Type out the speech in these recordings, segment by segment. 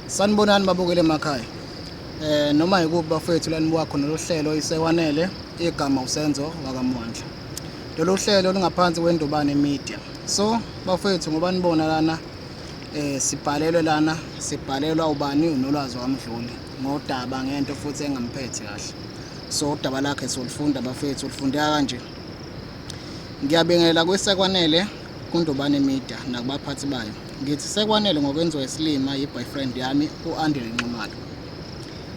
Sanibonani babukele emakhaya. Eh noma yikuba bafethu lanibuka khona lohlelo isewanele igama usenzo wakamwandla. Lolu hlelo lungaphansi kwendobane media. So bafethu ngoba nibona lana eh sibhalelwe lana sibhalelwa ubani unolwazi wamdluli ngodaba ngento futhi engamphethe kahle. So udaba lakhe solifunda bafethu ulifundeka kanje. Ngiyabingelela kwesekwanele kuNdobane Media nakubaphathi bayo. Ngithi sekwanele ngokwenziwa isilima yi-boyfriend yami u-Andile Nxumalo.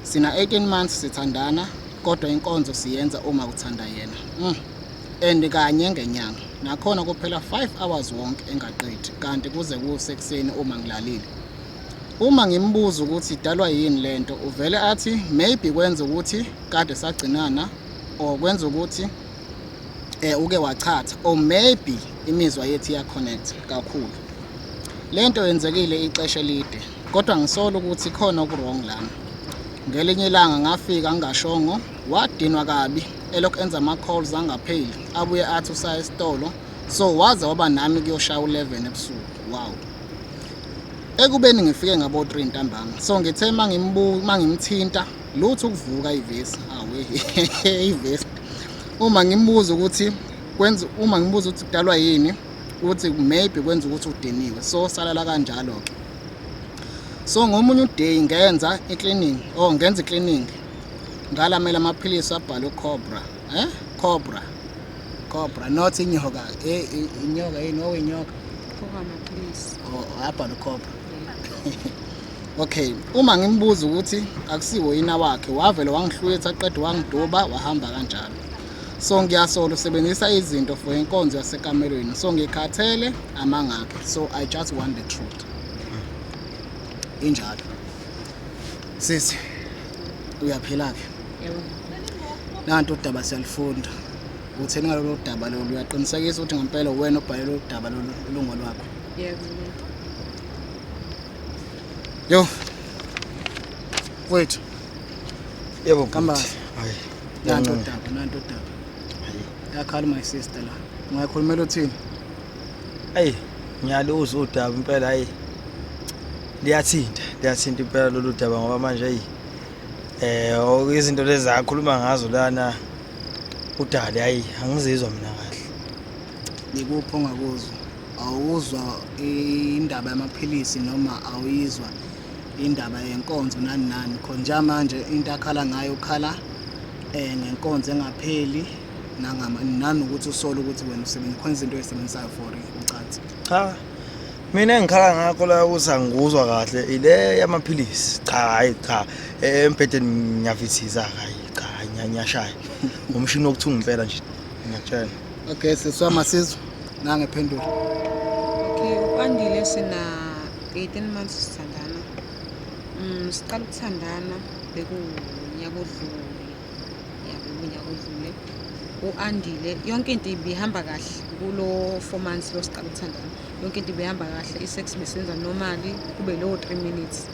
Sina 18 months sithandana kodwa inkonzo siyenza uma kuthanda yena. Mm. And kanye ngenyanga. Nakhona kuphela 5 hours wonke engaqedi kanti kuze kusekuseni uma ngilalile. Uma ngimbuza ukuthi idalwa yini lento uvele athi maybe kwenza ukuthi kade sagcinana or kwenza ukuthi eh uke wachatha or maybe imizwa yethu iya connect kakhulu lento yenzekile ixesha elide kodwa ngisola ukuthi khona okuwrong lana ngelinye ilanga ngafika ngingashongo wadinwa kabi elokhu enza ama-calls angapheli abuye athi usaya esitolo so waze waba nami kuyoshaya u-11 ebusuku wow ekubeni ngifike ngabo-3 ntambama so ngithe uma ngimthinta lutho ukuvuka ivesi awe ivesi uma ngimbuza ukuthi kwenza uma ngimbuza ukuthi kudalwa yini ukuthi maybe kwenza ukuthi udiniwe so salala kanjalo ke so ngomunye uday ngenza icleaning oh ngenza icleaning ngalamela amaphilisi abhalwe cobra eh cobra cobra not inyoka eh inyoka yini owinyoka oh, oh, oh, abhalwe cobra okay uma ngimbuza ukuthi akusiwo yina wakhe wavele wangihlwetha qede wangiduba wahamba kanjalo so ngiyasola usebenzisa izinto for inkonzo yasekamelweni so ngikhathele amangakhe so i just want the truth injalo sisi uyaphila-ke nanto udaba siyalifunda utheni ngalolu daba lolu uyaqinisekisa ukuthi ngempela uwena obhale lolu daba lolu ulungo lwakho Yo. Wait. Yebo kamba. Hayi. Nanto daba, nanto daba. Hayi. Yakhala my sister la. Ungayikhulumela uthini? Ayi, ngiyaluza udaba impela hayi. Liyathinta, liyathinta impela lolu daba ngoba manje ayi eh oh, izinto lezi akhuluma ngazo lana udali hayi angizizwa mina kahle. Yikuphi ongakuzwa? awuzwa indaba yamaphilisi noma awuyizwa indaba yenkonzo nani nani khona njamanje into akhala ngayo ukhala um ngenkonzo engapheli nanokuthi usole ukuthi wena usebenza khona izinto ezisebenzisayo for ucansi cha mina engikhala ngakho la ukuthi angikuzwa kahle ile yamaphilisi cha hhayi cha embhedeni ngiyavithiza hhayi cha ngiyashaya ngumshini wokuthunga impela nje ngiyakutshela okay sesiwama sizwe Nange phendula. Okay, ukwandile sina 18 months sithandana. Mm, siqala ukuthandana bekunyaka odlule. Ya bekunyaka odlule. U-Andile yonke into ibihamba kahle kulo 4 months lo siqala ukuthandana. Yonke into ibihamba kahle, i-sex besenza normally kube lo 3 minutes.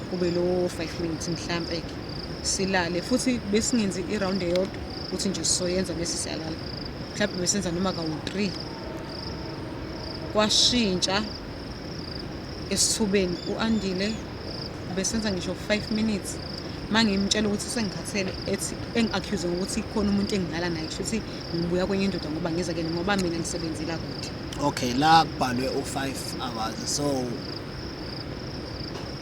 Kube lo 5 minutes mhlambe ke. Silale futhi besingenzi i-round eyodwa ukuthi nje sizoyenza bese siyalala. mhlawumbe besenza noma kawu-three kwashintsha esithubeni u-andile besenza ngisho five minutes uma ngimtshela ukuthi sengikhathele ethi engi-accuse ngokuthi khona umuntu engidlala naye kusho ukuthi ngibuya kwenye indoda ngoba ngiza kene ngoba mina ngisebenzela kude okay la kubhalwe u-five hours so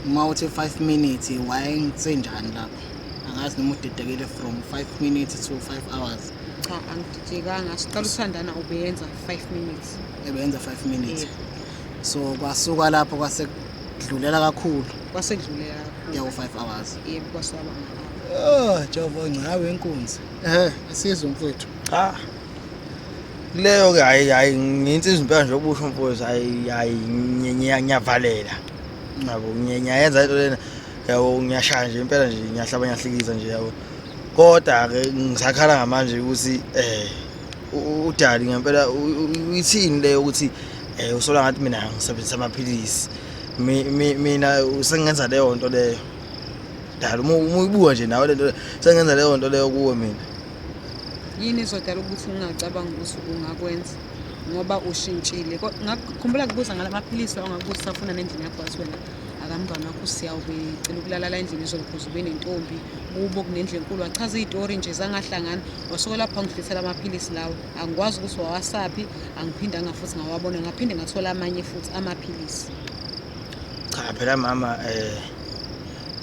uma uthi five minutes wayengisenjani lapho angazi noma udidekile from five minutes to five hours Cha angididekanga siqala ukuthandana ubeyenza 5 minutes. Ebeyenza 5 minutes. Yebo. So kwasuka lapho kwase kudlulela kakhulu. Kwase kudlulela kakhulu. Yawo 5 hours. Yebo kwasaba ngalo. Oh, Jehova ngcawe inkunzi. Eh, asizwe mfethu. Cha. Leyo ke hayi hayi nginsizwa impela nje okusho mfowethu hayi hayi ngiyavalela. Ngabo ngiyayenza into lena. Yawo ngiyashaya nje impela nje ngiyahlaba ngiyahlikiza nje yawo. Kodwa-ke ngisakhala ngamanje ukuthi um udali ngempela uyithini le yokuthi um usola ngathi mina ngisebenzisa amaphilisi mina sengenza leyo nto leyo dala uma uyibuka nje nawe le nto sengenza leyo nto leyo kuwe mina yini izodala ukuthi ungacabanga ukuthi ungakwenza ngoba ushintshile ngakukhumbula kubuza ngala maphilisi ongakubuza usafuna nendlela yakwazi wena akamntwana wakho usiyawu becela ukulalala endlini izolukhuza ube nentombi kubo kunendlu enkulu wachaza iy'tori nje zangahlangana wasuke lapho angidlisela amaphilisi lawo angikwazi ukuthi wawasaphi angiphindanga futhi ngawabona ngaphinde ngathola amanye futhi amaphilisi cha phela mama eh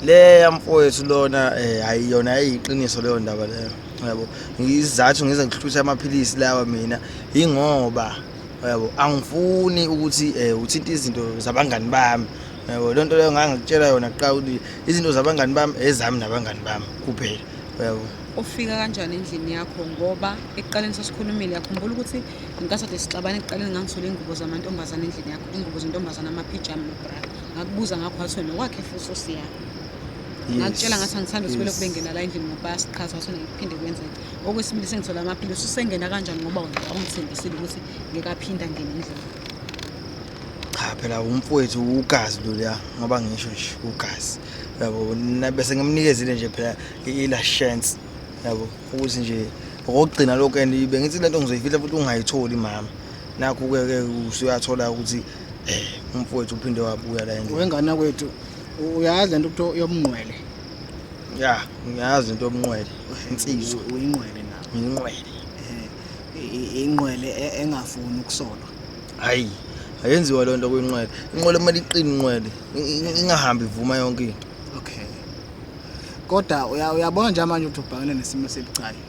le yamfowethu lona eh ayiyona ayiqiniso leyo ndaba leyo yabo ngizathu ngize ngihluthe amaphilisi lawa mina ingoba yabo angifuni ukuthi um uthinte izinto zabangani bami yabo loo nto leyo ngangikutshela yona kuqala ukuthi izinto zabangani bami ezami nabangani bami kuphela yabo ufika kanjani endlini yakho ngoba ekuqaleni sasikhulumile yakhumbula ukuthi ngenkathi ade sixabane ekuqaleni ngangisole ingubo zamantombazane endlini yakho ingubo zentombazane amaphijama nobra ngakubuza ngakho wathi wena wakhe futhi osiyakho ngakutshela ngathi angithanda ukuthi belokhu bengena la endlini ngoba siqhaza wathi ngiphinde kwenzeke Okwesibili sengithola amaphilisi usengena kanjani ngoba wena awungithembisile ukuthi ngeke aphinde angene endlini. Cha phela umfowethu ugazi loluya ngoba ngisho nje ugazi. Yabo na- bese ngimnikezile nje phela i- ila chance. Yabo ukuthi nje okugcina lokho and bengithi lento ngizoyifihla futhi ungayitholi mama. Nakho ke ke usuyathola ukuthi eh umfowethu uphinde wabuya la endlini. Wengane kwethu uyazi lento kuthiwa yomnqwele. ya ngiyazi into yobunqwele insizwa uyinqwele na uyinqwele eh, inqwele e-, engafuni ukusolwa hayi ayenziwa loo nto kwinqwele inqwele kumele iqine inqwele ingahambi ivuma yonke into okay kodwa uyabona nje manje ukuthi ubhekene nesimo esibucayi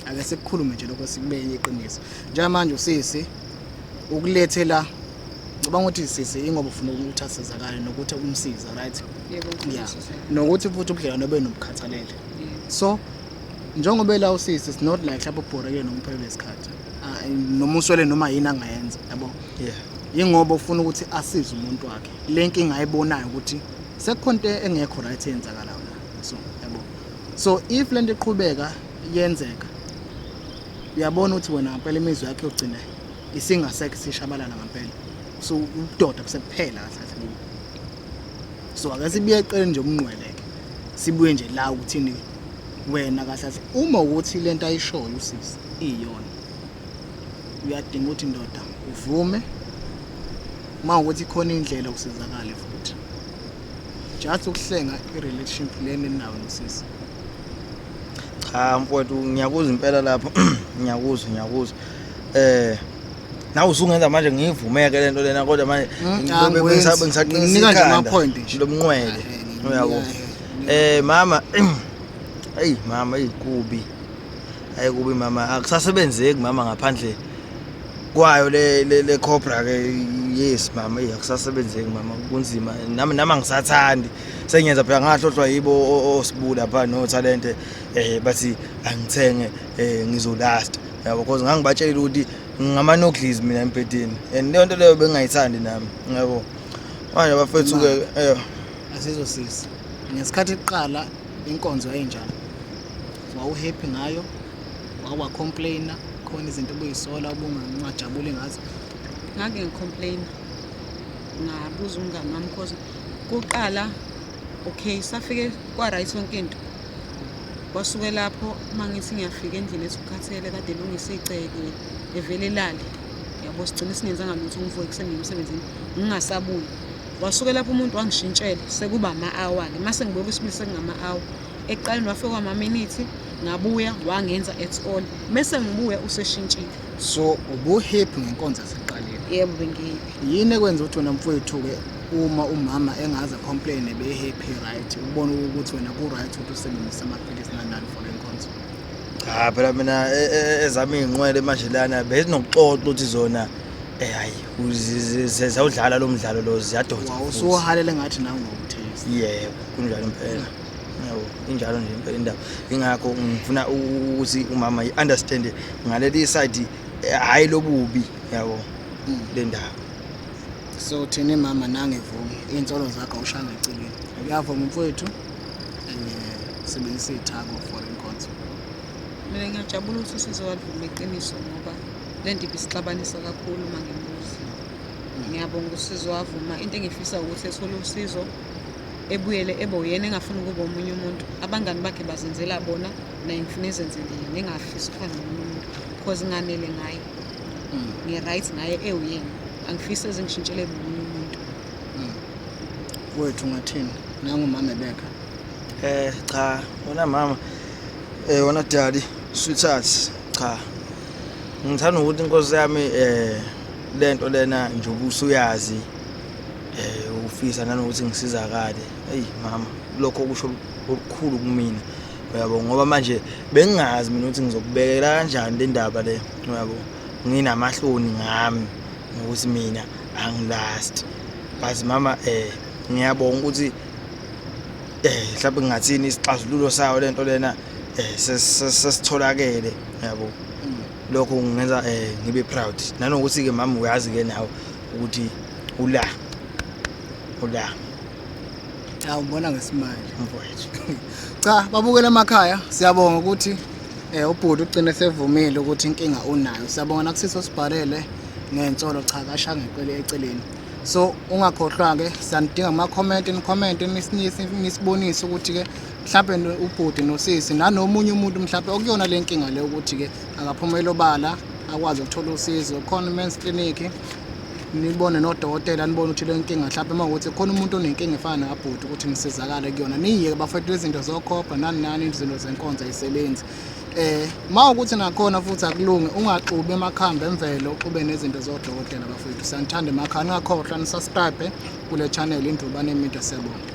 ake sikukhulume nje lokho sikubeke iqiniso njengamanje usisi ukulethela ngicabanga ukuthi sisi ingoba ufuna ukuthi asizakale nokuthi umsiza right yeah nokuthi futhi ubudlelwane obe nobukhathalele so njengoba ela usisi it's not like lapho ubhorekile noma uphelele isikhathi ah, noma uswele noma yini angayenza yabo yeah ingoba ufuna ukuthi asize umuntu wakhe le nkinga ayibonayo ukuthi sekukhona into engekho right eyenzakalayo la so yabo so if lento iqhubeka yenzeka uyabona ukuthi wena ngempela imizwa yakhe yogcina isingasekho sishabalala ngampela so ubudoda busekuphela kahle kubo so ake sibuye eqele nje umnqweleke sibuye nje la ukuthini wena kahle kahle uma ukuthi lento ayishoyo usisi iyona uyadinga ukuthi ndoda uvume uma ukuthi khona indlela usizakale futhi just ukuhlenga i-relationship leni nawo nosisi cha mfowethu ngiyakuzwa impela lapho ngiyakuzwa ngiyakuzwa eh nawe usungenza manje ngiyivumeke le nto lena kodwa manje Hmm, ngibe- angikwenzi. bengisa- bengisaqinisa Nginika nje ikhanda ama-point nje. lo mnqwele Eh, uyabo nginika, eh mama eyi mama eyi kubi ayi kubi mama akusasebenzeki mama ngaphandle kwayo le le, le cobra ke yes mama eyi akusasebenzeki mama kunzima nami nami angisathandi sengiyenza phela ngahlohlwa yibo o- o- osibula pha no talente eh bathi angithenge eh ngizolasta yabo because ngangibatshelile ukuthi ngamanoglies mina empedeni and leyo nto leyo bengingayithandi nami yabo manje bafethu ke eh asizosisi ngesikhathi kuqala inkonzo enjani wawuhappy ngayo wawa complainer khona izinto obuyisola ubungajabuli ngazo ngake ngicomplaina ngabuza umngane wami because kuqala okay safike kwa-right yonke into kwasuke lapho uma ngithi ngiyafika endlini ethi ukhathele kade elungise iceke evele lale yabo sigcine singenzanga lutho ngivuke ekuseni ngemsebenzini ngingasabuyi wasuke lapho umuntu wangishintshela sekuba ama-awa-ke uma sengibuye kwisibili sekungama-awa ekuqaleni wafika kwamaminithi ngabuya wangenza at all mese ngibuya useshintshile so ubuhappy ngenkonzo eseqaleni yebo bengiyiphi yini ekwenza ukuthi wena mfowethu-ke uma umama engaze complain ebe happy right ubona ukuthi wena ku right ukuthi usebenzise amaphilisi nanani for inkonzo cha phela mina e- e- ezami inqwele manje lana bezinokuxoxa ukuthi zona eh hayi uzi- zi- zi- ziyawudlala lo mdlalo lo ziyadonsa futhi. wawusuhalele ngathi nawe ngokuthisa yebo kunjalo impela yebo injalo nje impela indaba ingakho ngifuna u- ukuthi umama i-understand ngaleli side eh, hhayi lobubi yabo Mm. le ndaba so thini mama nangivumi iy'nsolo zakho awushanga eceleni uyavuma mfowethu and eh, sebenzisa iy'thako for inkonzo mina ngiyajabula ukuthi usizowalivuma iqiniso ngoba le nto ibisixabanisa kakhulu uma ngimuzi ngiyabonga usizo wavuma into engifisa ukuthi ethole usizo ebuyele ebe uyena engafuni ukuba omunye umuntu abangani bakhe bazenzela bona naye ngifuna ezenzele yena engafisi ukuhlala nomunye umuntu because nganele ngaye mm. ngi-right ngaye ewuyena angifisi ezingishintshele nomunye umuntu mm. wethu ngathini nangumama ebeka eh cha wona mama eh wona daddy sweetheart cha ngithanda ukuthi inkosi yami eh lento lena nje ubusuyazi eh ufisa nanokuthi ngisizakale hey mama lokho kusho okukhulu kumina uyabo ngoba manje bengingazi mina ukuthi ngizokubekela kanjani le ndaba le uyabo nginamahloni ngami ngokuthi mina angilast but mama eh ngiyabonga ukuthi eh mhlawumbe ngingathini isixazululo sayo lento lena eh sesitholakele yabo lokho kungenza eh ngibe proud nanokuthi ke mama uyazi ke nawe ukuthi ula ula Hawu mbona ngesimanje mfowethu. Cha babukela emakhaya siyabonga ukuthi eh ubhuti ugcine sevumile ukuthi inkinga unayo. Siyabonga nakusiso sibhalele ngensolo cha kasha ngeqele eceleni. So ungakhohlwa ke sanidinga ama comment ni comment nisinise nisibonise ukuthi ke mhlawumbe no- ubhuti nosisi nanomunye umuntu mhlawumbe okuyona le nkinga le ukuthi ke akaphumela obala akwazi ukuthola usizo khona men's clinic nibone nodokotela nibone ukuthi le nkinga mhlawumbe uma ukuthi khona umuntu onenkinga efana nekabhuti ukuthi nisizakale kuyona niyeke bafethu izinto zokhopha nani nani izinto zenkonzo ayisebenzi eh ma ukuthi nakhona futhi akulunge ungaxubi emakhambi emvelo uxube nezinto zodokotela bafethu siyanithanda emakhaya ningakhohlwa nisubscribe kule channel indrubane media siyabonga